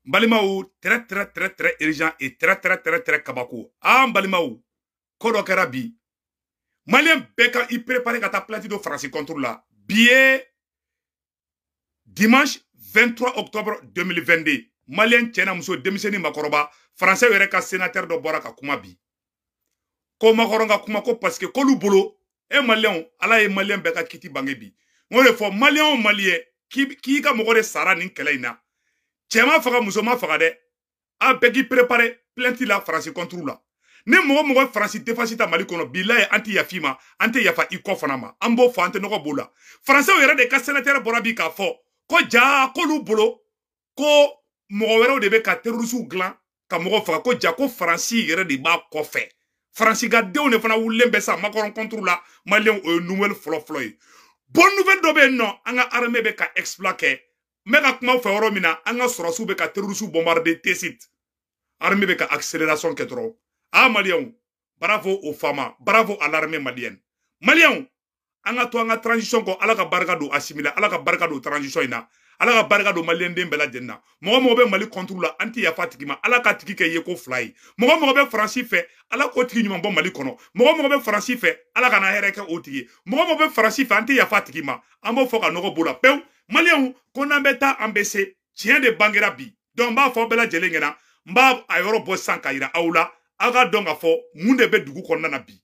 n balimaw très très très très urgent et très très très très kabako aa n balimaw ko dɔ kɛra bi maliyɛn bɛɛ ka i préparé ka taa plainte don faransi contre la bi ye dimanche 23 octobre 2022 maliyɛn cɛ na muso denmisɛnnin makɔrɔba faransɛw yɛrɛ ka sénateur dɔ bɔra ka kuma bi ko makɔrɔn ka kuma ko parce que k'olu bolo e maliyɛnw ala ye maliyɛn bɛɛ ka kiti bange bi n y'o de fɔ maliyɛn o maliyɛn k'i ka mɔgɔ de sara nin kɛlɛ in na cɛman faga musoman faga dɛ a bɛɛ k'i prepare plainte la faransi kɔnturu la ni mɔgɔ o mɔgɔ faransi défense ta mali kɔnɔ bilaye an tɛ yaf'i ma an tɛ yafa i kɔ fana ma an b'o fɔ an tɛ nɔgɔ b'o la faransɛw yɛrɛ de ka sénateur bɔra bi k'a fɔ ko jaa k'olu bolo ko mɔgɔ wɛrɛw de bɛ ka terorisiw dilan ka mɔgɔ faga ko ja ko faransi yɛrɛ de b'a kɔfɛ faransi ka denw de fana wulilen bɛ sa makɔrɔn kɔnturu la maliyɛnw o ye nouvelle fɔlɔfɔlɔ ye bon nouvelle dɔ bɛ yen nɔ an ka armée bɛ ka exploit kɛ n bɛ ka kuma fɛ yɔrɔ min na an ka sɔrɔdasiw bɛ ka terorisiw bombarde tesit armée bɛ ka accélération kɛ dɔrɔn a maliyɛnw bravo aux fama bravo à l'armée malienne maliyɛnw an ka to an ka transition kɔ ala ka barika don asimila ala ka barika don transition in na ala ka barika don maliyɛnden bɛɛ lajɛlen na mɔgɔ o mɔgɔ bɛ mali kɔnturu la an tɛ yafa tigi ma ala k'a tigi kɛ yeko fila ye mɔgɔ mɔgɔ bɛ faransi fɛ ala k'o tigi ɲuman bɔ mali kɔnɔ mɔgɔ mɔgɔ bɛ faransi fɛ ala kana hɛrɛ kɛ o tigi ye mɔgɔ mɔgɔ bɛ faransi fɛ an tɛ yafa tigi ma an b'o fɔ ka nɔgɔ b'o la pewu maliyɛnw ko n'an bɛ taa an bɛ se tiɲɛ de bangera bi donc n b'a fɔ bɛɛ lajɛlen ɲɛna n b'a a yɔrɔ bɔ sisan k'a yira aw la aw k'a dɔn k'a fɔ mun de bɛ dugu kɔnɔna na bi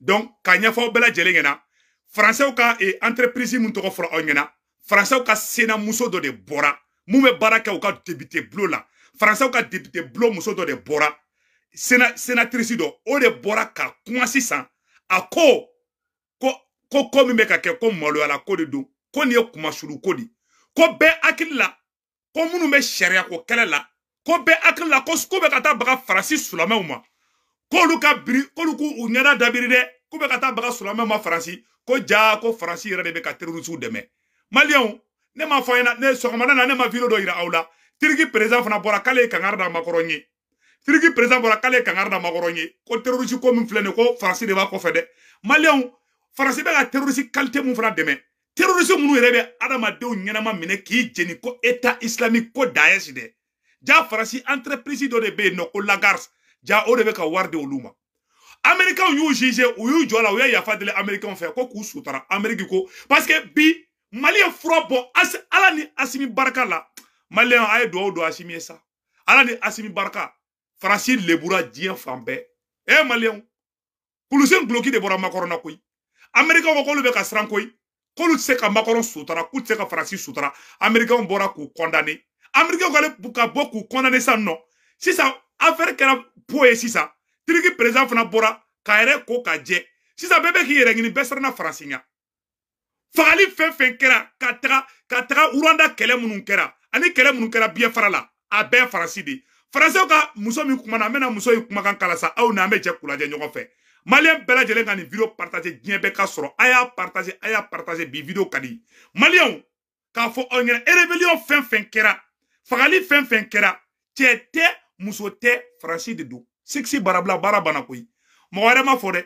donc k'a ɲɛfɔ aw bɛɛ lajɛlen ɲɛna faransɛw ka eh, entreprise min tɔgɔ fɔra aw ɲɛna faransɛw ka sena muso dɔ de bɔra min bɛ baara kɛ u ka depite bulon la faransɛw ka depite bulon muso dɔ de bɔra sena senatrice dɔ o de bɔra ka kuma sisan a ko ko ko ko min bɛ ka kɛ ko maloyala ko de don ko nin ye kunmasuuli ko de ko bɛɛ hakili la ko minnu bɛ sariya ko kɛlɛ la ko bɛɛ hakili la ko k'u bɛ ka taa baga faransi silamɛw ma k'olu ka biri k'olu k'u u ɲɛda dabiri dɛ k'u bɛ ka taa baga silamɛw ma faransi ko jaa ko faransi yɛrɛ de bɛ ka terorisiw dɛmɛ maliyɛnw ne m'a fɔ a ɲɛna ne sɔgɔmada na ne ma video dɔ yira aw la turki perezan fana bɔra k'ale ye kangari da makɔrɔn ye turki perezan bɔra k'ale ye kangari da makɔrɔn ye ko terorisi ko min filɛ nin ko faransi de b'a kɔfɛ dɛ maliyɛnw faransi bɛ ka terorisi kalite min fana dɛmɛ terorisi minnu yɛrɛ bɛ adamadenw ɲɛnama minɛ k'i jeni ko eta islamique ko daɛsi dɛ ja faransi entreprise dɔ de bɛ yen nɔ ko lafarge ja o de bɛ ka wari di olu ma amerikanw y'u juge u y'u jɔ a la u ye yafa deli amerikanw fɛ ko k'u sutara ameriki ko parce que bi mali ye fura bɔ ala ni asimi barika la maliyɛn a ye dugawu don asimi ye sa ala ni asimi barika faransi lebura diɲɛ fan bɛɛ e eh, maliyɛnw kulusi ni duloki de bɔra makɔrɔn na koyi amerikaw ko k'olu bɛ ka siran koyi k'olu tɛ se ka makɔrɔn sutara k'u tɛ se ka faransi sutara amerikaw bɔra k'u kɔndane amerikaw ka bɔ k'u kɔndane sisan nɔ sisan afɛri kɛra po ye sisan tiriki perezidan fana bɔra k'a yɛrɛ ko ka jɛ sisan bɛɛ bɛ k'i yɛrɛ ɲini bɛɛ siranna faransi ɲɛ fagali fɛn fɛn kɛra ka taga ka taga uruwanda kɛlɛ minnu kɛra ani kɛlɛ minnu kɛra biyafara la a bɛɛ faransi de faransɛw ka muso min kumana n bɛna muso in kumakan kala sa aw ni an bɛ jɛ k'u lajɛ ɲɔgɔn fɛ maliyɛn bɛɛ lajɛlen ka nin video partage diɲɛ bɛɛ k'a sɔrɔ a y'a partage a y'a partage bi video ka di maliyɛnw k'a fɔ aw ɲɛna erebeliyɔn fɛn fɛn kɛra fagali fɛn fɛn kɛra cɛ tɛ muso tɛ faransi de don sikisi barabila baara banna koyi mɔgɔ wɛrɛ ma fɔ dɛ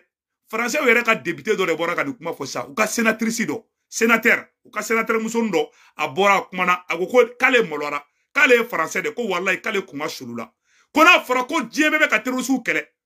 faransɛw yɛrɛ ka depite dɔ de bɔra ka nin kuma fɔ sa u ka senatirisi dɔ senatɛri u ka senatɛri musonin dɔ a bɔra a kumana a ko ko k'ale mɔlɔra k'ale ye faransɛ de ko walayi k'ale kunma sulula ko n'a fɔra ko diɲɛ bɛɛ bɛ ka terorisiw kɛlɛ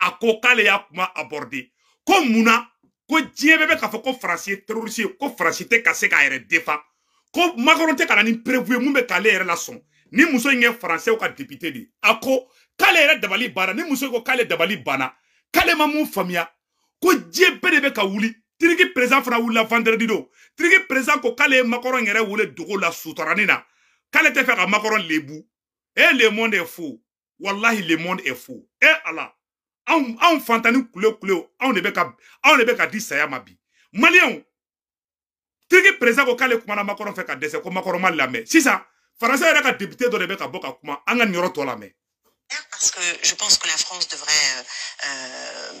a ko k'ale y'a kuma aborder ko munna ko diɲɛ bɛɛ bɛ k'a fɔ ko faransi ye terroriste ye ko faransi tɛ ka se k'a yɛrɛ defan ko makɔrɔn tɛ ka na ni preuve ye mun bɛ k'ale yɛrɛ lasɔn nin muso in ye faransɛw ka depite de a ko k'ale yɛrɛ dabali banna nin muso ko k'ale dabali banna k'ale ma mun faamuya ko diɲɛ bɛɛ de bɛ ka wuli tiriki perezidan fana wulila vendredi don tiriki perezidan ko k'ale ye makɔrɔn yɛrɛ wele dogo la sutaranin na k'ale tɛ fɛ ka makɔrɔn lebu e le monde est fou wallahi le monde est fou e ala anw anw fantannin kule kule anw de bɛ ka anw de bɛ ka di saya ma bi maliyɛnw tiriki perezidan ko k'ale kumana makɔrɔn fɛ ka dɛsɛ ko makɔrɔn m'a lamɛn sisan faransɛw yɛrɛ ka depite dɔ de bɛ ka bɔ ka kuma an ka nin yɔrɔ tɔ lamɛn parce que je pense que la France devrait euh, euh,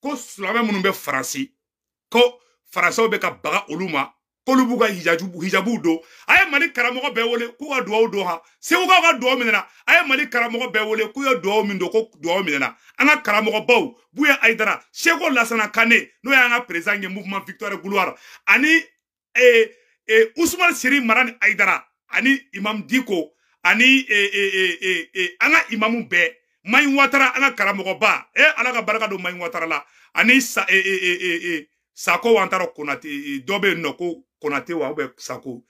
ko silamɛ minnu bɛ faransi ko faransɛw bɛ ka baga olu ma k'olu b'u ka hijabuw don a ye mali karamɔgɔ bɛɛ wele k'u ka dugawu don ha segukaw ka dugawu minɛna a ye mali karamɔgɔ bɛɛ wele k'u ye dugawu min don ko dugawu minɛna an ka karamɔgɔbaw buya ayidara sɛku lasana kane n'o y'an ka perezidan ye mouvement victoire gloire ani eh, eh, Ousmane Chérif Madani Haïdara ani Imam Dicko ani eh, eh, eh, eh, eh, an ka imamu bɛɛ Mayi Watara an ka karamɔgɔba eh, ala ka barika don Mayi Watara la ani sa, eh, eh, eh, eh, eh, Sako Wantara Konate eh, dɔ bɛ yen nɔ ko Konate wa ou bien Sako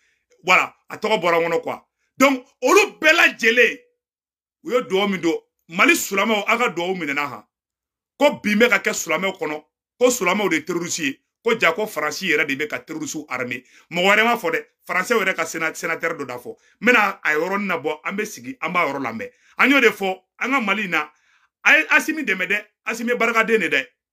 voilà a tɔgɔ bɔra n kɔnɔ quoi donc olu bɛɛ lajɛlen u ye dugawu min don mali silamɛw aw ka dugawu minɛna han ko bin bɛ ka kɛ silamɛw kɔnɔ ko silamɛw de ye terorisi ye ko ja ko faransi yɛrɛ de bɛ ka terorisiw armer mɔgɔ wɛrɛ ma fɔ dɛ faransɛw yɛrɛ ka senatɛri dɔ d'a fɔ n bɛna a yɔrɔnin nabɔ an bɛ sigi an b'a yɔrɔ lamɛn an y'o de fɔ an ka mali in na a ye asimi dɛmɛ dɛ asimi barikaden de dɛ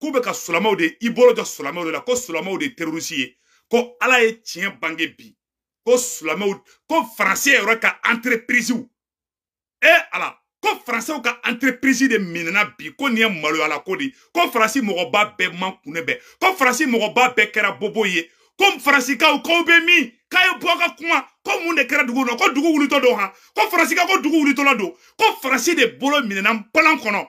k'u bɛ ka sulamaw de i bolo jɔ sulamaw de la ko sulamaw de ye terorisi ye ko ala ye tiɲɛ bange bi ko sulamaw ko faransi yɛrɛ ka entreprisew eh, ala ko faransiw ka entreprise de minɛna bi ko nin ye maloyala ko de ko faransi mɔgɔba bɛɛ mankunnen bɛ ko faransi mɔgɔba bɛɛ kɛra bobo ye ko faransikaw k'aw bɛ min k'a ye bɔ ka kuma ko mun de kɛra dugu kɔnɔ ko dugu wulitɔ don han ko faransika ko dugu wulitɔla don ko faransi de bolo minɛna npalan kɔnɔ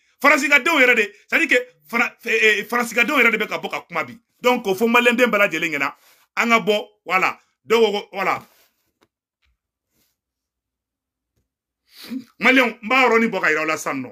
faransigadenw yɛrɛ de c'est à dire que faransigadenw yɛrɛ de bɛ ka bɔ ka kuma bi donc k'o fɔ maliyɛnden bɛɛ lajɛlen ɲɛna an ka bɔ voilà donc voilà maliyɛnw n b'a yɔrɔnin bɔ k'a yira aw la sisan nɔ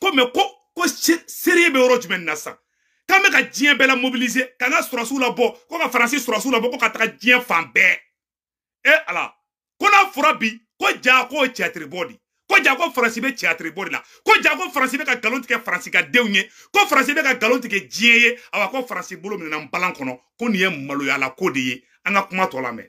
ko mais ko ko sérieux bɛ yɔrɔ jumɛn na sisan k'an bɛ ka diɲɛ bɛɛ la mobiliser ka na sɔrɔsiw labɔ ko ka faransi sɔrɔsiw labɔ ko ka taga diɲɛ fan bɛɛ e ala ko n'a fɔra bi ko ja ko tiyatiri bɔ di ko ja ko faransi bɛ tiyatiri bɔ de la ko ja ko faransi bɛ ka nkalon tigɛ faransi ka denw ye ko faransi bɛ ka nkalon tigɛ diɲɛ ye awa ko faransi bolo minɛna npalan kɔnɔ ko nin ye maloyala ko de ye an ka kuma tɔ lamɛn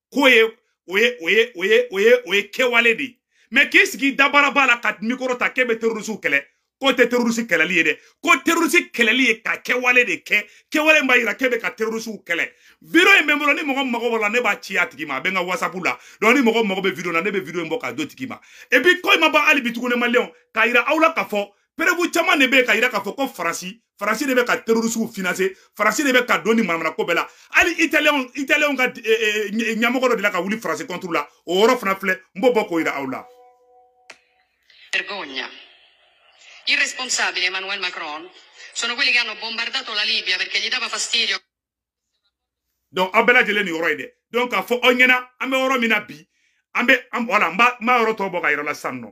k'o ye o ye o ye o ye o ye o ye kɛwale de ye mɛ k'i sigi dabaraba la ka mikoro ta k'e bɛ terorisiw kɛlɛ k'o tɛ terorisi kɛlɛli ye dɛ ko terorisi kɛlɛli ye ka kɛwale de kɛ kɛwale min b'a yira k'e bɛ ka terorisiw kɛlɛ video in bɛ n bolo ni mɔgɔ mago b'o la ne b'a ci a tigi ma a bɛ n ka whatsapp la donc ni mɔgɔ mago bɛ video la ne bɛ video in bɔ k'a d'o tigi ma et puis ko in ma ban hali bi tuguni maliyɛnw k'a yira aw la k'a fɔ preuve caman de bɛ ka yira k'a fɔ ko faransi faransi de bɛ ka terorisiw financer faransi de bɛ ka don nin manamanako bɛɛ la hali italiyɛnw italiyɛnw ka eh, eh, eh, ɲɛmɔgɔ dɔ delila ka wuli faransi contre la o yɔrɔ fana filɛ n b'o bɔ k'o yira aw la. Vergogna. I responsabili Emmanuel Macron sono quelli che hanno bombardato la Libia perché gli dava fastidio. Donc aw bɛɛ lajɛlen nin yɔrɔ ye dɛ donc k'a fɔ aw ɲɛna an bɛ yɔrɔ min na bi an bɛ an voilà n b'a n b'a yɔrɔ tɔ bɔ k'a yira aw la sisan nɔ.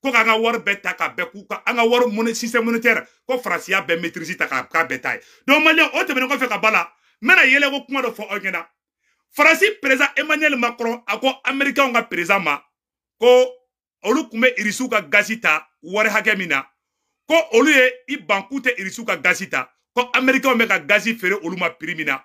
ko k'an ka wari bɛɛ ta k'a bɛɛ k'u ka an ka wari mun système monétaire ko faransi y'a bɛɛ maîtrise ta k'a k'a bɛɛ ta yen donc maliyɛn o tɛmɛnen kɔfɛ ka ba la n bɛna yɛlɛko kuma dɔ fɔ aw ɲɛna faransi perezan emmanuel macron a ko amerikanw ka perezan ma ko olu tun bɛ irisiw ka gazi ta wari hakɛ min na ko olu ye i ban k'u tɛ irisiw ka gazi ta ko amerikanw bɛ ka gazi feere olu ma prix min na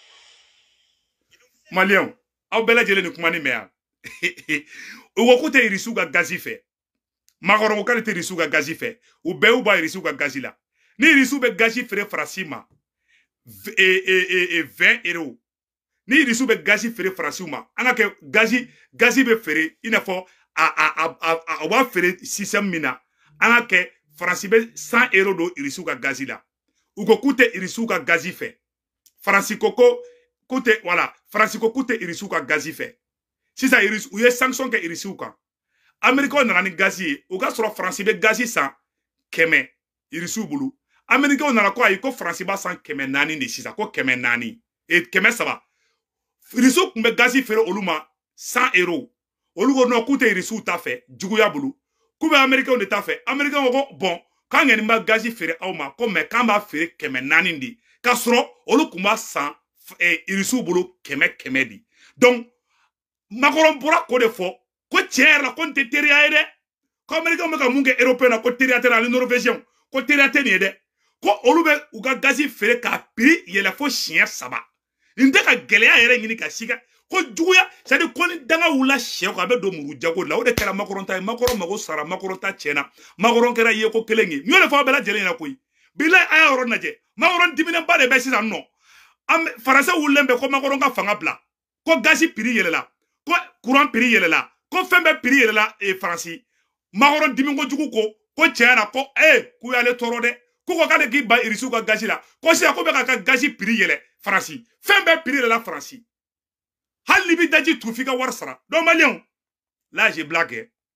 maliyɛnw aw bɛɛ lajɛlen ni kuma nin mɛn yan u ko k'u tɛ irisiw ka gazi fɛ macron ko k'ale tɛ irisiw ka gazi fɛ u bɛɛ y'u bɔ irisiw ka gazi la ni irisiw bɛ gazi feere faransi ma e, e, e, vingt euros ni irisiw bɛ gazi feere faransiw ma an ka kɛ gazi gazi bɛ feere i n'a fɔ a a a a u b'a feere système min na an ka kɛ faransi bɛ cent euros don irisiw ka gazi la u ko k'u tɛ irisiw ka gazi fɛ faransi ko ko k'u tɛ voilà faransi ko k'u tɛ irisiw ka gazi fɛ sisan irisi u ye sanction kɛ irisiw kan amerikaw nana ni gazi ye o k'a sɔrɔ faransi bɛ gazi san kɛmɛ irisiw bolo amerikaw nana ko ayi ko faransi b'a san kɛmɛ naani de sisan ko kɛmɛ naani e kɛmɛ saba irisiw tun bɛ gazi feere olu ma cent euro olu ko non k'u tɛ irisiw ta fɛ juguya bolo k'u bɛ amerikɛnw de ta fɛ amerikɛnw ko bon k'an kɛni b'a gazi feere aw ma ko mais k'an b'a feere kɛmɛ naani de k'a sɔrɔ olu tun b'a san irisiw bolo kɛmɛ kɛmɛ de donc makɔrɔn bɔra k'o de fɔ ko tiɲɛ yɛrɛ la ko nin tɛ teriya ye dɛ ko américain bɛ ka mun kɛ européen na ko teriya tɛ ani norvégien ko teriya tɛ nin ye dɛ ko olu bɛ u ka gazi feere k'a piri yɛlɛ fo siɲɛ saba nin tɛ ka gɛlɛya yɛrɛ ɲini ka si ka ko juguya c'est à dire ko ni danga wulila syɛ kɔ a bɛ don muru jago la o de kɛra makɔrɔn ta ye makɔrɔn mago sara makɔrɔn ta tiɲɛna makɔrɔn kɛra yeko kelen ye n y'o de fɔ aw bɛɛ lajɛlen ɲɛna koyi bilayi a y'a yɔrɔ lajɛ makɔrɔn diminenba de bɛ sisan nɔ an faransɛw wulilen bɛ ko makɔrɔn ka fanga bila ko gazi piri yɛlɛla ko kuran piri yɛlɛla ko fɛn bɛɛ piri yɛlɛla e faransi makɔrɔn dimiko jugu ko ko tiɲɛ na ko e k'u y'ale tɔɔrɔ dɛ k'u ko k'ale k'i ban irisiw ka gazi la ko sisan k'u bɛ ka ka gazi piri yɛlɛ faransi fɛn bɛɛ piri yɛlɛla faransi hali n'i bɛ daji tu f'i ka wari sara donc maliyɛnw là j'ai blagué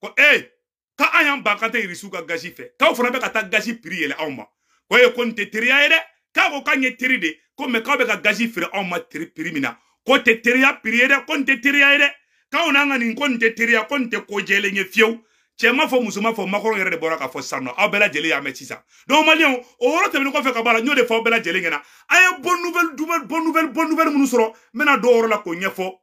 ko e ka an y'an ban k'an tɛ irisiw ka gazi fɛ k'aw fana bɛ ka taa gazi piri yɛlɛ anw ma ko e ko nin tɛ teriya ye dɛ k'a ko k'an ye teri de ko mais k'aw bɛ ka gazi feere anw ma teri piri min na k'o tɛ teriya piri ye dɛ ko nin tɛ teriya ye dɛ k'aw n'an ka nin ko nin tɛ teriya ko nin tɛ ko jɛlen ye fiyewu cɛ ma fɔ muso ma fɔ makɔrɔn yɛrɛ de bɔra k'a fɔ sisan nɔ aw bɛɛ lajɛlen y'a mɛn sisan donc maliyɛnw o yɔrɔ tɛmɛnen kɔfɛ ka bɔ a la n y'o de fɔ aw bɛɛ lajɛlen ɲɛna a ye bonne nouvelle bonne nouvelle bonne nouvelle minnu sɔrɔ n bɛna dɔw yɔrɔ la k'o ɲɛfɔ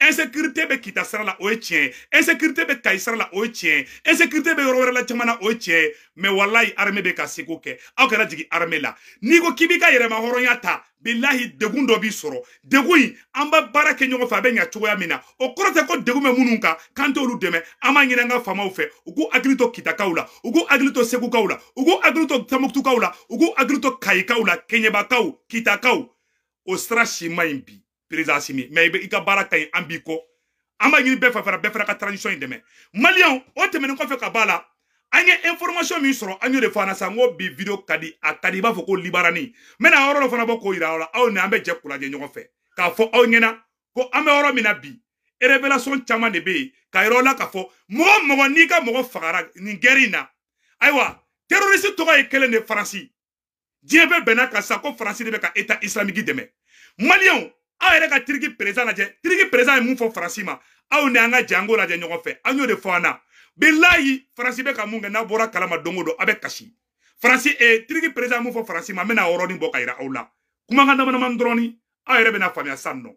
insécurité bɛ kita sira la o ye tiɲɛ ye insécurité bɛ kayi sira la o ye tiɲɛ ye insécurité bɛ yɔrɔ wɛrɛ la caman na o ye tiɲɛ ye mais walayi armée bɛ ka seko kɛ aw kana jigin armée la n'i ko k'i b'i ka yɛrɛma hɔrɔnya ta bilahi degun dɔ b'i sɔrɔ degun in an bɛ baara kɛ ɲɔgɔn fɛ a bɛ ɲa cogoya min na o kɔrɔ tɛ ko degun bɛ minnu kan k'an t'olu dɛmɛ an b'a ɲini an ka faamaw fɛ u k'u hakili to kitakaw la u k'u hakili to segukaw la u k'u hakili to tamuktukaw la u k'u hakili to kayikaw la kɛɲɛbakaw kitakaw o sira si man ɲi bi président asimi mais i bɛ i ka baara ka ɲi an b'i kɔ an b'a ɲini bɛɛ fɛ fana bɛɛ fana ka transition in dɛmɛ maliyɛnw o tɛmɛnen kɔfɛ ka b'a la an ye information min sɔrɔ an y'o de fɔ an na sisan n ko bi video ka di a ka di i b'a fɔ ko libarani n bɛna yɔrɔ dɔ fana bɔ k'o yira aw la aw ni an bɛ jɛ k'u lajɛ ɲɔgɔn fɛ k'a fɔ aw ɲɛna ko an bɛ yɔrɔ min na bi révélation caman de bɛ yen k'a yira aw la k'a fɔ mɔgɔ mɔgɔ n'i ka mɔgɔ fagara nin gɛri in na ayiwa terroriste tɔgɔ ye kelen de faransi diɲɛ bɛɛ bɛnna a kan sa ko faransi de bɛ ka eta islamiki dɛmɛ maliyɛnw aw yɛrɛ ka tiriki perezan lajɛ tiriki perezan ye mun fɔ faransi ma aw ni an ka jɛ k'o lajɛ ɲɔgɔn fɛ an y'o de fɔ an na bilayi faransi bɛ ka mun kɛ n'a bɔra kalama don o don a bɛ kasi faransi e eh, tiriki perezan mun fɔ faransi ma n bɛna yɔrɔnin bɔ k'a yira aw la kumakan damadamanin dɔrɔn ni aw yɛrɛ bɛna faamuya sɔrɔ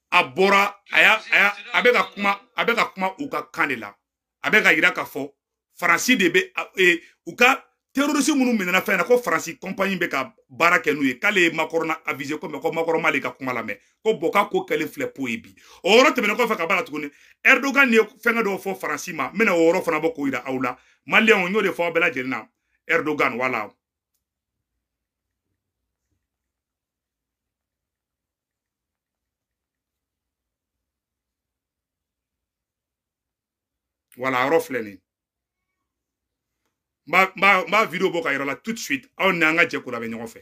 a bɔra a y'a a y'a a bɛ ka kuma a bɛ ka kuma u ka kan de la a bɛ k'a yira k'a fɔ faransi de bɛ e, u ka terorisi minnu minɛna fɛn na ko faransi kɔnpanyi bɛ ka baara kɛ n'u ye k'ale ye makɔrɔn avize ko mɛ ko makɔrɔn m'ale ka kuma lamɛn ko bɔn k'a ko kɛlen filɛ po ye bi o yɔrɔ tɛmɛnen kɔfɛ ka b'a la tuguni ɛrdogan ye fɛngɛ dɔ fɔ faransi ma n bɛna o yɔrɔ fana bɔ k'o yira aw la maliyɛnw n y'o de fɔ aw bɛɛ lajɛlen na ɛrdogan wala wala yɔrɔ filɛ nin n b'a video bɔ k'a yira aw la tout de suite aw ni an ka jɛ k'o lamɛn ɲɔgɔn fɛ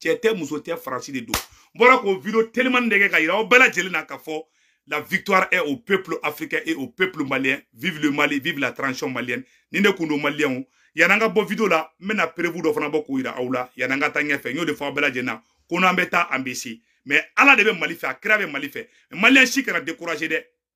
cɛ tɛ muso tɛ faransi de don n bɔra k'o video telimani de kɛ k'a yira aw bɛɛ lajɛlen na k'a fɔ la victoire est au peuple africain et au peuple malien vive le mali vive la transition malienne nin de kun don maliyɛnw yan'an ka bɔ video la n bɛna perevu dɔ fana bɔ k'o yira aw la yan'an ka taa ɲɛfɛ n y'o de fɔ aw bɛɛ lajɛlen na ko n'an bɛ taa an bɛ se mɛ ala de bɛ mali fɛ a kira bɛ mali fɛ maliyɛn si kana découragé dɛ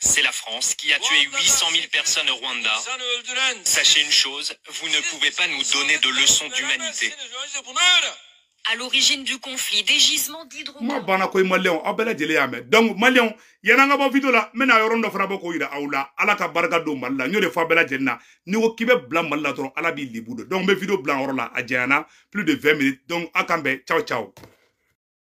C'est la France qui a tué 800 000 personnes au Rwanda. Sachez une chose, vous ne pouvez pas nous donner de leçons d'humanité. À l'origine du conflit, des gisements d'hydrocarbures. Mais a banna koyi malienw, aw bɛɛ lajɛlen y'a mɛn. Donc malienw, yanni an ka bɔ video la, n bɛna yɔrɔ dɔ fana bɔ k'o yira aw la. Ala ka barika don Mali la, n y'o de fɔ aw bɛɛ lajɛlen na. N'i ko k'i bɛ bila Mali la dɔrɔn, Ala b'i lebu don. Donc n bɛ video bila o yɔrɔ la, a janyana plus de 20 minutes. Donc a k'an bɛn, ciao ciao.